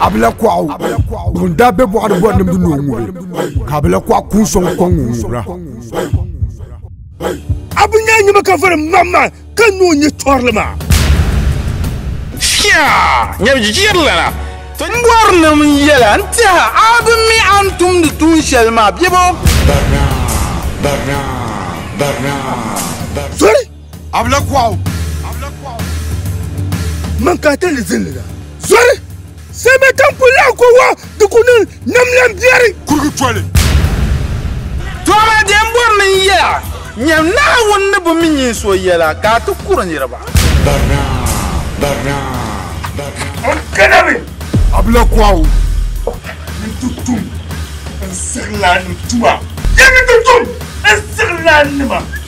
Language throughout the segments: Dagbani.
abila kuɣu ŋun daa bɛ bɔɣa ni bɔri nimdi ni o ŋubi ka abila kuɣu kun sɔŋ kɔŋ ŋun ŋubira abu nyɛ nyɛma ka vɔri mamma ka ni o nyɛ tɔrili maa nyɛbijirlana mɔrinim yɛla n tiɛha abu mi a ni tumdi tuun shɛli maa biɛbo Abla kuɣu. Man ka ta ni zin lina. Zɔri! Sɛmɛ tan ku lahi ko wa di ku niŋ nam lan biɛri. Kurigi toli. Tɔra din bɔri ni n yɛya nyam Naawuni ni bi mi nyin so yɛla ka a ti kuri niriba. Barina, barina, barina. N kanami! Abla kuɣu. Yin ti tum n siɣilaannima tuma. Yin ti tum n siɣilaannima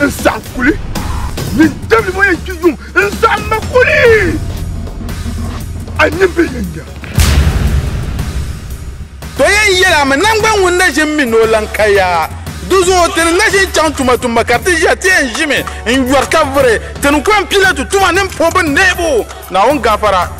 n saɣam kuli mini dabili ŋɔ yɛn kpi yuŋ n saɣam ma kuli a nin bi yɛn nya to yɛn yɛla mi nangbani ŋun na ʒim mi ni o lan ka ya di zuɣu ti ni na ʒin chaŋ tuma tumba ka ti ʒiya ti yɛn ʒimi n yɔri ka vuri ti ni kɔŋ Pilatu tuma ni n puhi bi neebu Naawuni gafara